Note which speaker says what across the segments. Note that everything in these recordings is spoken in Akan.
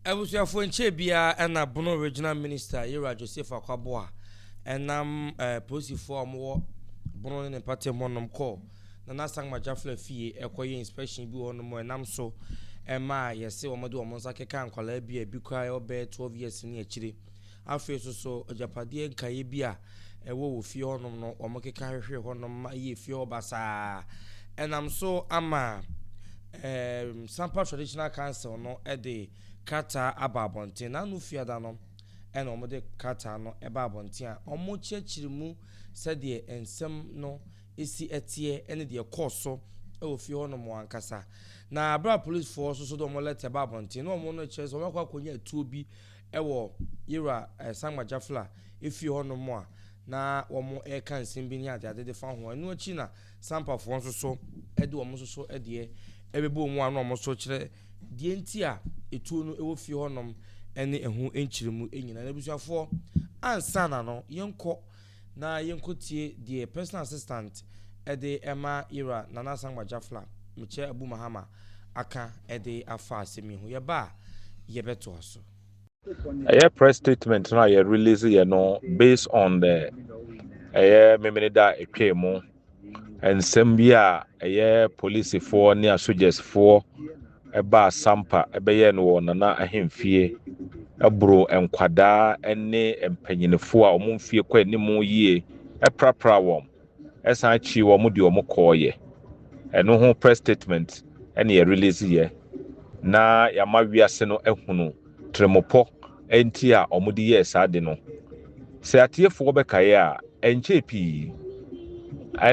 Speaker 1: Abusuafoɔ nkyɛɛ biara na Bono Regional Minister Yera Joseph Akwaboah nam polisifoɔ a wɔwɔ Bono ne ne mpɔtam hɔnom kɔɔ Nana Sankma Jafla fie kɔyɛɛ inspection bi wɔ hɔnom a ɛnam so maa yɛse wɔde wɔn nsa kekaa nkwadaa bi a ebi koraa ɔbɛyɛ 12 years ne akyire Afei nso so agyapadeɛ nkaeɛ bi a ɛwɔ wɔ fie hɔ nom no wɔn keka hwehwee hɔ nom ma ɛyɛɛ fie hɔ basaa. Ɛnam so ama ɛɛm Sampa Traditional Council no de krataa aba abɔnten. N'ano Fiada no ɛna wɔn de krataa no ɛba abɔnten a wɔn kyerɛkyerɛ mu sɛdeɛ nsɛm no ɛsi ɛteɛ ɛne deɛ ɛkɔɔ so ɛwɔ fie hɔ nom ankasa. Na abere a Policefoɔ nso so de wɔn lɛtɛ ba abɔnten na wɔn no kyerɛ sɛ wɔn akɔ akɔnya atuo bi wɔ Yeroa Sangma Jafla fie hɔ nom a na wɔn reka nsɛm bi ne adeade de fa ho. Ɛno akyi na Sampa foɔ nso so de wɔn nso so deɛ ɛbɛbɔ mu a na wɔn so kyerɛ deɛ nti a etuo no wɔ fie hɔ nom ne ɛho nkyerɛmu nyinaa. Na abusuafoɔ ansa na no yɛnkɔ Na yɛnkɔtie deɛ Personal Assistant de ma Yera Nana Asankwa Jafla, Mekyɛ Abu Mahama, aka de afa asɛm yi ho. Yɛba a, yɛbɛtoa so. Ɛyɛ
Speaker 2: press statement no a yɛ release yɛ no based on the ɛyɛ Memeneda a ɛtwaa mu. Nsɛm bi a ɛyɛ polisifoɔ ne asogyasfoɔ baa Sampa bɛyɛɛ no wɔ Nana ahemfie boro nkwadaa ne mpanyinfoɔ a wɔn mfie kɔ anim yie prapra wɔn san akyiri wɔn de wɔn kɔɔyɛ. Ɛno ho press statement ne yɛ release yɛ na yɛama wiase no ahunu. tirimpɔ nti a wɔde yɛɛ saa ade no. Sɛ atiefoɔ bɛkae a, ɛnkyɛɛ pii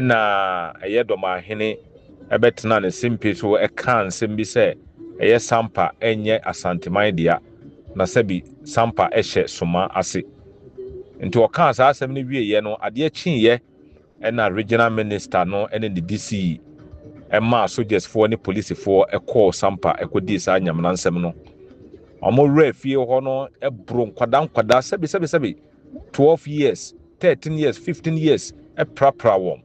Speaker 2: na ɛyɛ Dɔmahene bɛtenaa ne sempe so kaa nsɛm bi sɛ ɛyɛ Sampa nyɛ Asanteman dea, na sɛbi Sampa hyɛ Soma ase. Nti ɔkaa saa asɛm no wieeɛ no, adeɛ kyeeɛ. Ɛna Regional Minister no ne ne DC maa sogyasfoɔ ne polisifoɔ kɔɔ Sampa kɔdii saa nyamena nsɛm no. Wɔn werɛ fie hɔ no boro nkwadaa nkwadaa sɛbe sɛbe sɛbe 12 years, 13 years, 15 years prapra wɔn.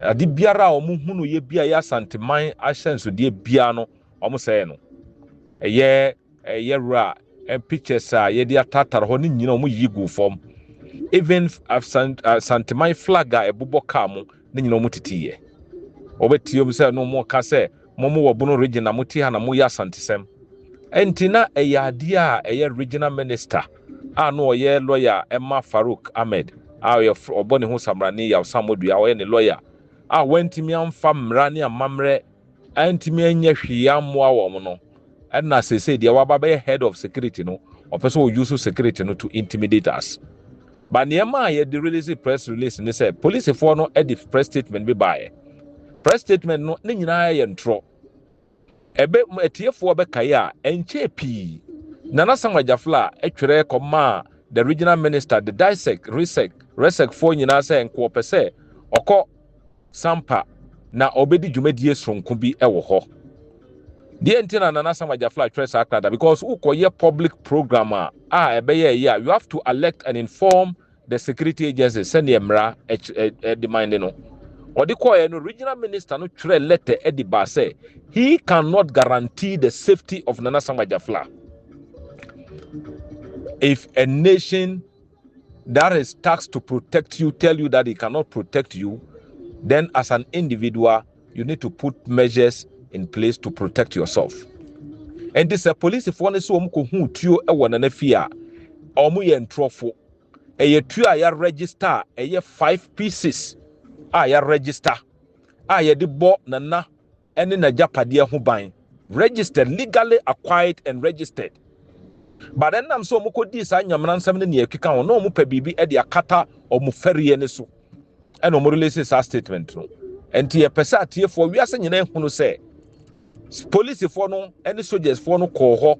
Speaker 2: Ade biara a wɔn hunu yɛ bi a yɛ Asanteman ahyɛnsodeɛ biara no wɔn sɛɛ no. Ɛyɛ. Yɛ werɛ a ɛn pictures a yɛde atatare hɔ no nyina ɔmo yiyi guu fɔm even asanteman flag a ɛbobɔ kaa mo no nyina ɔmo titi yɛ ɔbɛ tiom sɛ no ɔmo ka sɛ mo mo wɔ bono region na mo te ha na mo yɛ asantesɛm ɛnti na ɛyɛ adeɛ a ɛyɛ regional minister a no ɔyɛ lawyer ɛma Farouk Ahmed a ɔyɛ ɔbɔ ne ho samrani Yaw Sammodua ɔyɛ ne lawyer a wantimi amfa mmra ne amamerɛ antumi anyɛ hwee ammoa wɔn no ɛna sese deɛ waba bɛyɛ head of security no ɔpɛ sɛ ɔuse security no to intimidate us ba nneɛma a yɛde release press release ne sɛ policefoɔ no de press statement bi baeɛ press statement no ne nyinaa yɛ ntorɔ ɛbɛ atiefoɔ bɛkae a ɛnkyɛɛ pii Nana Sam Agyafla twerɛ kɔmaa the regional minister the DISEC, RISEC, RESEC foɔ nyinaa sɛ nkoɔpɛ sɛ ɔkɔ Sampa na ɔbɛdi dwumadie soronko bi wɔ hɔ. Deɛ nti na Nana Sam Agyafla atwerɛ saa krada because wokɔyɛ public program a a ɛbɛyɛ ɛyɛ a you have to alert and inform the security agencies sɛdeɛ mmara ɛde man de no. Ɔde kɔɛ no regional minister no twerɛ letter ɛde baa sɛ he cannot guarantee the safety of Nana Sam Agyafla if a nation that is tax to protect you tell you that he cannot protect you then as an individual you need to put measures in place to protect yourself ɛnti sɛ polisifoɔ no sɛ wɔn kɔ hu tuo wɔ nana fie a wɔn yɛ ntorɔfo ɛyɛ tuo a yɛaregister a ɛyɛ five pieces a yɛaregister a yɛde bɔ nana ne n'agyapadeɛ ho ban, registered, legally acquired and registered, but ɛnam sɛ wɔkɔdii saa nyamena nsɛm ne nea ɛkeka ho na wɔpɛ biribi de akata wɔn fɛreɛ no so ɛna wɔn release saa statement no nti yɛpɛ sɛ atiefoɔ wiase nyinaa ehunu sɛ polisifoɔ no ne sogyasfoɔ no kɔɔ hɔ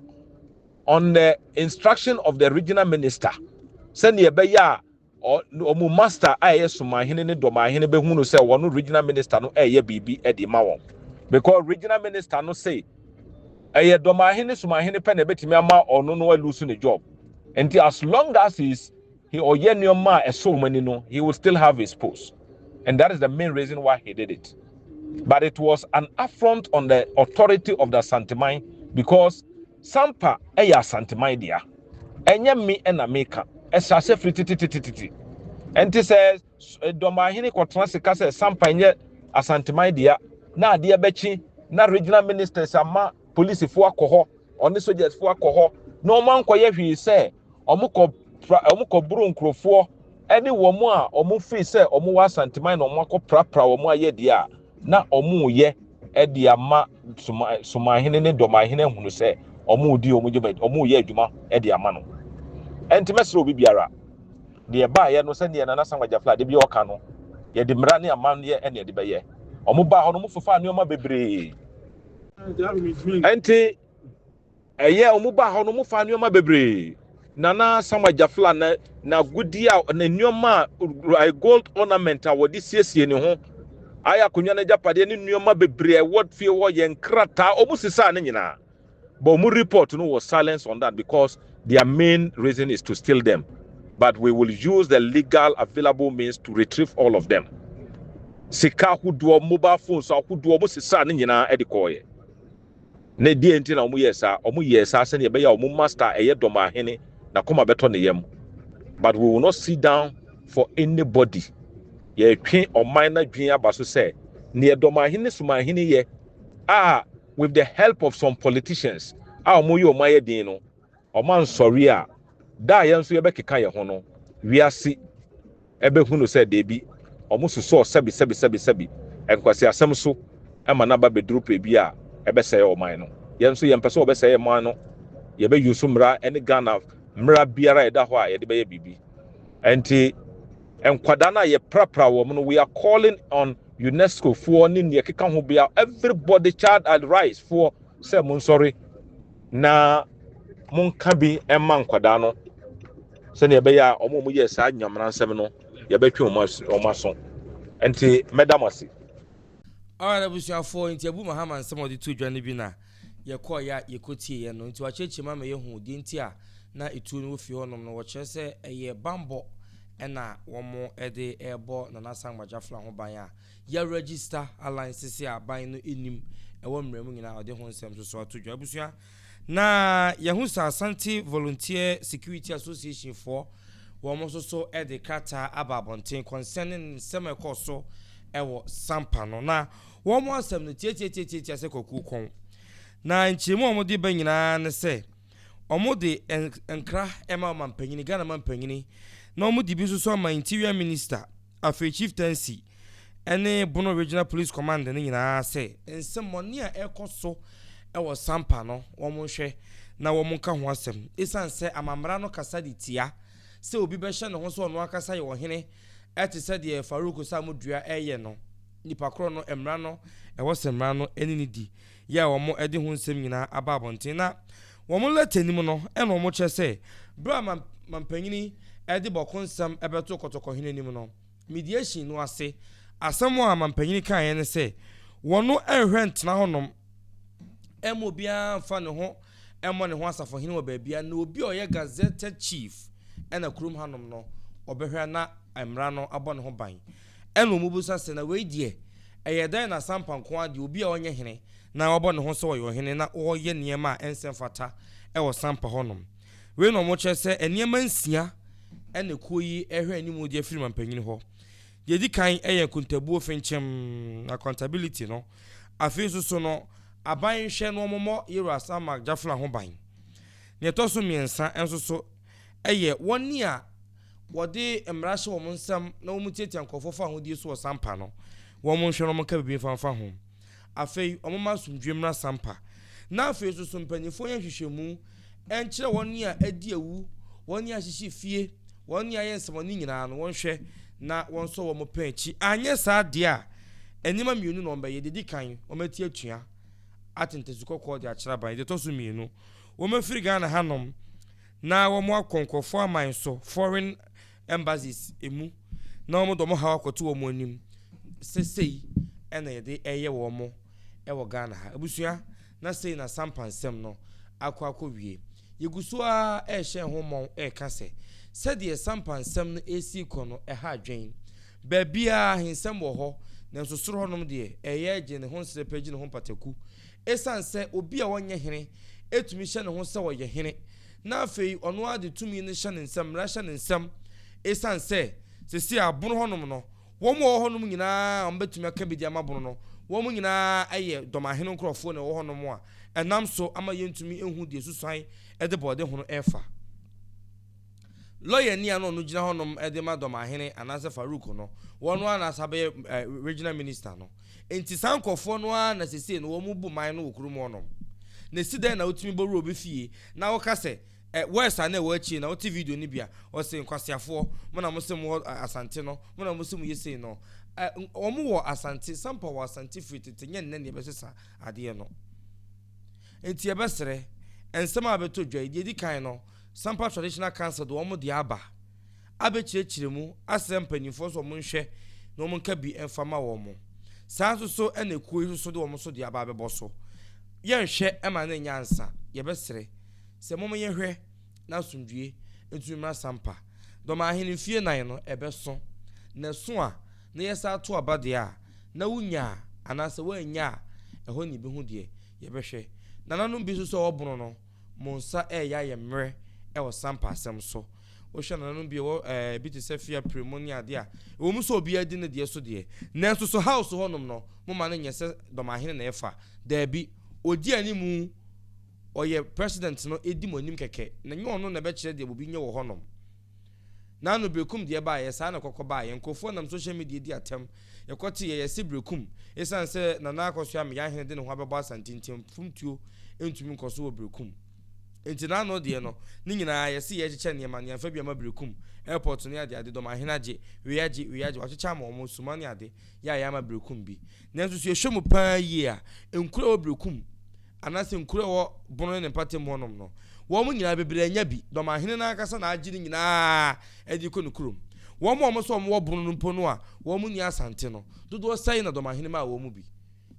Speaker 2: on the instruction of the regional minister sɛdeɛ ɛbɛyɛ a Ɔ wɔn master a ɛyɛ Somanhene ne Dɔmanhene bɛhu no sɛ wɔn regional minister no reyɛ biribi de rema wɔn. Because regional minister no se ɛyɛ Dɔmanhene ne Somanhene pɛ na ɛbɛtumi ama ɔno no alusu ne job. Nti as long as he is he ɔyɛ nneɛma a ɛsɔ wɔn ani no, he will still have his post. And that is the main reason why he did it. But it was an affront on the authority of the Asanteman because Sampa ɛyɛ Asanteman dea. Ɛnyɛ me na meka. Ɛhyɛ aseɛ firi tetetetete. Ɛnte sɛ Dɔmahene kɔtena ase ka sɛ Sampa ɛnyɛ Asanteman dea na adeɛ bɛkye na Regional Ministers ama polisifoɔ akɔ hɔ, ɔne sogyasfoɔ akɔ hɔ na wɔn ankɔyɛ hwee sɛ wɔn kɔ pra, wɔn kɔ boro nkorɔfoɔ ɛne wɔn a wɔn firi sɛ wɔn wɔ Asanteman na wɔn akɔ prapra wɔn ayɛ deɛ a. na wɔreyɛ de ama Sumanhene ne Dɔmanhene ahunu sɛ wɔredi wɔn dwumadi, wɔreyɛ adwuma de ama no. Ɛnti mɛsrɛ obi biara, deɛ baayɛ no sɛdeɛ Nana Samuel Gyafla de bi ɔka no, yɛde mmara ne amanneɛ ɛna ɛde bɛyɛ. Wɔn baa hɔ no, wɔn fefaa nneɛma bebree. Ɛnti Ɛyɛ a wɔbaa hɔ no, wɔfaa nneɛma bebree. Nana Samuel Gyafla na n'agudeɛ a ne nneɛma a ayɛ gold ornament a wɔde siesie ne ho, ayɛ akonnwa no agyapadeɛ ne nneɛma bebree a ɛwɔ fie hɔ, yɛ nkrataa, wɔsesaa ne nyinaa. But wɔn report no was silence on that because their main reason is to steal them. But we will use the legal available means to retrieve all of them. Sika ahodoɔ, mobile phones ahodoɔ, wɔsesaa ne nyinaa de kɔeɛ. Na deɛn nti na wɔyɛɛ saa? Wɔyɛɛ saa sɛdeɛ ɛbɛyɛ a wɔn Master a ɛyɛ dɔ ma Ahene, n'akoma bɛtɔ ne yam. But we will not sit down for anybody. Yɛretwe ɔman no adwene aba so sɛ deɛ Dɔmahene Sumahene yɛ a with the help of some politicians a wɔreyɛ wɔn ayɛ den no, wɔansɔre a, da a yɛn nso yɛbɛkeka yɛn ho no, wiase. bɛhu no sɛ dabi, wɔsosɔɔ sɛbesɛbesɛbesɛbe nkwaseasɛm so ma no aba bɛduru pere bi a ɛbɛsɛe ɔman no. Yɛn nso yɛmpɛ sɛ wɔbɛsɛe yɛn man no, yɛbɛ use mmara ne Ghana mmara biara a ɛda hɔ a yɛde bɛyɛ biribi. Ɛnti nkwadaa no a yɛprapra wɔn no, we are calling on UNESCO foɔ ne nea ɛkeka ho bia, everybody child and rights foɔ sɛ monsɔre na monka bi mma nkwadaa no sɛnea ɛbɛyɛ a wɔn a wɔyɛ saa nyamena nsɛm no yɛbɛtwe wɔn as wɔn aso nti mɛda mo ase. Alright
Speaker 1: abusuafoɔ nti Abu Mahama nsɛm a ɔde to dwa no bi na yɛkɔeɛ a yɛkɔtieeɛ no nti wakyerɛkyerɛ mu ama yɛhu deɛ nti a na etuo no wɔfie hɔnom no wɔkyerɛ sɛ ɛyɛ bammɔ ɛna wɔn de ɛrebɔ Nana Asamoah Gyafla ho ban a yɛaregister alliances a ban no nim ɛwɔ mmerɛ mu nyinaa ɔde ho nsɛm nso so ato dwa abusua Na yɛahu sɛ Asante Volunteer Security Association foɔ wɔn nso so de krataa aba abɔnten concerning nsɛm a ɛkɔɔ so wɔ Sampa no. Na wɔn asɛm no tiatiatiatia sɛ kwakuo kɔn. Na nkyerɛmu a wɔde ba nyinaa ne sɛ wɔde nkra ma ɔmampanyini, Ghana mampanyini, na wɔde bi nso so ama Interior Minister. Afei Chieftaincy ne Bono Regional Police Command no nyinaa sɛ, nsɛmmɔne a ɛrekɔ so wɔ Sampa no, wɔnhwɛ na wɔnka ho asɛm esiane sɛ amammara no kasa de tia sɛ obi bɛhyɛ ne ho sɛ ɔno ankasa yɛ ɔhene te sɛ deɛ Farouk Osamudua reyɛ no. Nnipa korɔ no, mmara no, ɛwɔ sɛ mmara no ne no di. yɛ a wɔde ho nsɛm nyinaa aba abɔnten. Na wɔn lɛtɛni mu no na wɔkyerɛ sɛ, Bere a mampanyini de bɔko nsɛm bɛtoo Kɔtɔkɔhene anim no, mediation no ase asɛm a mampanyini kaeɛ ne sɛ, Wɔno nhwɛ ntena hɔnom mma obiara mfa ne ho mmɔ ne ho asafohene wɔ baabiara, na obi a ɔyɛ gazetted chief na kurom hanom no, ɔbɛhwɛ na mmara no abɔ ne ho ban. Ɛnna wɔbisa sɛ, Na wei deɛ, ɛyɛ dɛn na Sampa nko ara deɛ, obi a ɔnyɛ hene, na wabɔ ne ho sɛ ɔyɛ ɔhene na ɔreyɛ nneɛma a ɛnsɛ mfata wɔ Sampa hɔnom? Wei na wɔkyerɛ sɛ nneɛma nsia na kuo yi rehwɛ anim de afiri manpanin hɔ. Deɛ ɛdi kan yɛ nkontabuo fenkyem, accountability, no. Afei nso so no, aban nhwɛ na wɔmmɔ Yewura Samak Jafla ho ban. Deɛ ɛtɔ so mmiɛnsa nso so yɛ wɔn a Wɔde mmara hyɛ wɔn nsam na wɔtiatia nkurɔfoɔ fa ahodie so wɔ Sampa no, wɔnhwɛ na wɔnka biribi mfa mfa ho. Afei, wɔmma asomdwoeɛ mmra Sampa. Na afei nso, so mpanimfoɔ nyɛ nhwehwɛmu nkyerɛ wɔn a adi awu, wɔn a ahyehye fie, wɔn a ayɛ nsɛmmɔne nyinaa no, wɔnhwɛ na wɔnsɔ wɔn pɛn akyi, anyɛ saa deɛ a, nneɛma mmienu na wɔbɛyɛ, deɛ ɛdi kan, wɔati atua atentasu kɔkɔɔ de akyerɛ aban, deɛ ɛtɔ so mmienu, wɔafiri Ghana hanom. Na wɔn akɔ nkorɔfoɔ aman so, foreign embassies, mu, na wɔn de wɔn haw akɔto wɔn anim, sɛ sei na yɛde reyɛ wɔn wɔ Ghana ha. Abusua, na sei na Sampa nsɛm no akɔ akɔ wie. Yɛgu so ara rehyɛ ho mmɔn reka sɛ, sɛdeɛ Sampa nsɛm no resi rekɔ no ɛha adwene. Baabiara ahensɛm wɔ hɔ, nanso soro hɔnom deɛ, ɛyɛ gye ne ho nsrɛpɛ, gye ne ho mpataku, Esiane sɛ obi a ɔnyɛ hene tumi hyɛ ne ho sɛ ɔyɛ hene, na afei ɔno ara de tumi no hyɛ ne nsam, mmara hyɛ ne nsam, esiane sɛ seesei abon hɔnom no, wɔn a wɔwɔ hɔnom nyinaa a wɔbɛtumi aka biribi ama bon no, wɔn nyinaa yɛ dɔmahene nkurɔfoɔ na wɔwɔ hɔnom a ɛnam so ama yɛntumi nhu deɛ susuan de bɔɔdehono refa. Lɔyani a na ɔno gyina hɔnom de ma Dɔmahene anaasɛ Farouk no, wɔn ara na sa bɛyɛ Regional Minister no. Enti saa nkorɔfoɔ no ara na sesei no wɔn bu man no wɔ kurom hɔnom. Na esi dɛn na wotumi bɔ wura obi fie na woka sɛ worse a na ɛwɔ akyire na wote video no bi a ɔse nkwaseafoɔ mo na mose mo wɔ Asante no mo na mose mo yɛ sei no wɔn wɔ Asante Sampa wɔ Asante firi tete nyɛ nnɛ na yɛbɛsesa adeɛ no. Enti yɛbɛsrɛ nsɛm a bɛtɔ dwa yi deɛ edi kan no Sampa Traditional Council de wɔn deɛ aba abɛkyerɛkyerɛ mu asrɛ mpaninfoɔ nso wɔn nhwɛ na wɔn nka bi mfa ma wɔn. Saa nso so na ekuo yi nso so de wɔn nso deɛ aba abɛbɔ so. Yɛ nhwɛ ma no nyɛ ansa yɛbɛsrɛ sɛ mom yɛ hwɛ na asomdwie ntumi mmra Sampa. Dɔm ahene mfie nnan no ɛbɛso na ɛso a na yɛ saa to aba deɛ a na wo nya a anaasɛ woannya a ɛhɔ na yɛbɛhu deɛ yɛbɛhwɛ. Nananom bi nso so a wɔbono no. mo nsa reyɛ ayɛ mmerɛ wɔ sampa asɛm so. Wohwɛ nananom bi wɔ ɛɛ bi te sɛ fie apiremu ne adeɛ a, ɛwɔ mu sɛ obiara di ne deɛ so deɛ, nanso so house hɔnom no, mo ma no nyɛ sɛ dɔmahene na ɛfa. Daabi, ɔdi anim, ɔyɛ president no, ɛdi mo anim kɛkɛ, na ɛnyɛ ɔno na ɛbɛkyerɛ deɛ obi nyɛ wɔ hɔnom. N'ano bekum deɛ ɛbaeɛ, saa na ɛkɔkɔ baeɛ. Nkurɔfoɔ nam social media di atɛm. Yɛkɔtee yɛn yɛse Berekum. Esiane sɛ Nana Akosua Ameya Ahene de ne ho abɛbɔ Asante nti mfomtuo ntumi nkɔ so wɔ Berekum. Enti n'ano deɛ no, ne nyinaa yɛse yɛrekyekyɛ nneɛma no, yɛmfa bi mma Berekum. Airport ne adeade, dɔm ahene agye, wei agye, wei agye, wɔakyekyɛ ama wɔn, suma ne ade, yɛ a yɛamma Berekum bi. Nanso sɛ yɛhwɛ mu paa yie a, nkuro a ɛwɔ Berekum anaasɛ nkuro a ɛwɔ Bono ne ne mpɔtam hɔnom no, wɔn nyinaa bebree anya bi. Dɔmahene no ankasa na agye ne nyinaa de rekɔ ne kurom. Wɔn a wɔn sɛ wɔn wɔ Bono no mpo no a wɔn nni Asante no, dodoɔ sɛn na Dɔmahene maa wɔn mu bi?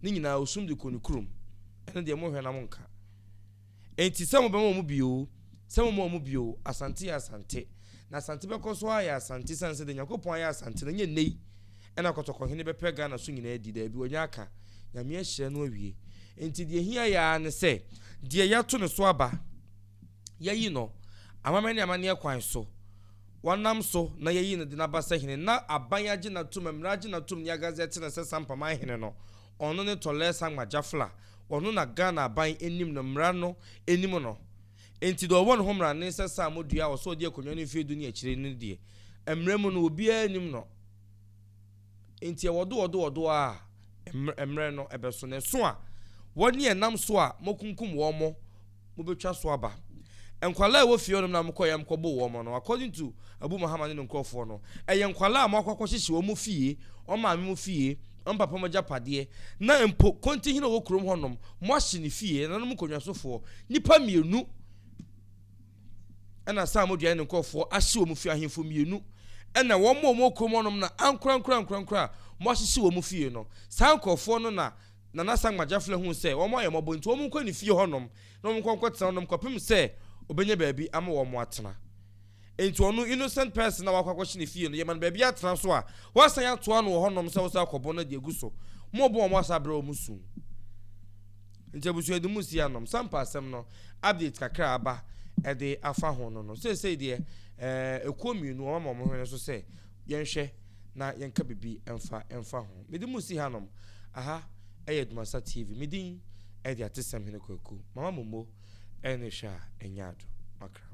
Speaker 1: Ne nyinaa, ɔsum de kɔɔ ne kurom. Ɛno deɛ monhwɛ na monka. Enti sɛ mobɛma wɔn bi oo, sɛ momma wɔn bi oo, Asante yɛ Asante, na Asante bɛkɔ so ayɛ Asante esiane sɛ deɛ Nyankopɔn ayɛ Asante no, ɛnyɛ nnɛ yi na kɔtɔkɔhene bɛpɛ Ghana so nyinaa adi, daabi, wanya aka, Nyame ahyira no awie. Enti deɛ ɛhia yɛ ara ne sɛ deɛ yɛato ne so aba, yɛayi no amammerɛ ne amanneɛ kwan so, wɔnam so na yɛayi no de no aba sɛ hene, na aban agye no atom, mmara agye no atom ne agazɛte no sɛ Sampaman hene no. Ɔno ne Tɔlɛs Angma Gyafl a ɔno na Ghana aban anim no mmara no anim no. Enti deɛ ɔwɔ ne ho mmara ne sɛ Sammor Duah a ɔsɛ ɔdi akonnwa no mfeɛ du ne akyire no deɛ, mmara mu no obiara nnim no. Enti ɛwɔ do wɔ do wɔ do ara a mmara no bɛso. Na ɛso a, wɔn ne ɛnam so a moakunkum wɔn mo, mobɛtwa so aba. Nkwadaa a ɛwɔ fie hɔnom na mokɔeɛ a mokɔboo wɔn no, according to Abu Muhammad ne ne nkurɔfoɔ no, ɛyɛ nkwadaa a moakɔ akɔhyehye wɔn fie, wɔn maame mu fie, wɔn papa mu agyapadeɛ, na mpo Kontihene a ɔwɔ kurom hɔnom, moahye ne fie, nananom nkonnwasofoɔ, nnipa mmienu, ɛna Sa'd Mudua ne ne nkurɔfoɔ ahye wɔn fie, ahemfo mmienu, ɛna wɔn a wɔwɔ kurom hɔnom na ankorankorankorankora a moahyehye wɔn fie no, saa nkurɔfoɔ no na Nana Sankma Gyafla huu sɛ wɔayɛ wɔn mmɔbɔ nti wɔnkɔ ne fie hɔnom na wɔnkɔ nkɔtena hɔnom kɔpem sɛ ɔbɛnya baabi ama wɔn atena. Enti ɔno innocent person a wakɔ akɔhye ne fie no yɛma no baabi atena nso a wɔasan atoa no wɔ hɔnom sɛ wɔsan akɔbɔ no de agu so ma wɔbɔ wɔn asan abrɛ wɔn su. Nti abusua de mu si anom sampa asɛm no update kakra a aba ɛde afa ho no no seesei deɛ ɛɛ ekuo mmienu wɔn ama wɔn hwene so sɛ Yɛnhwɛ na yɛnka biribi mfa mfa ho. Mede mo resi hanom. Aha yɛ Adwumasa TV. Me din de Atesɛmhene Kwaku. Mama mo mo ne hwɛ a ɛnyɛ ado. Makra ho.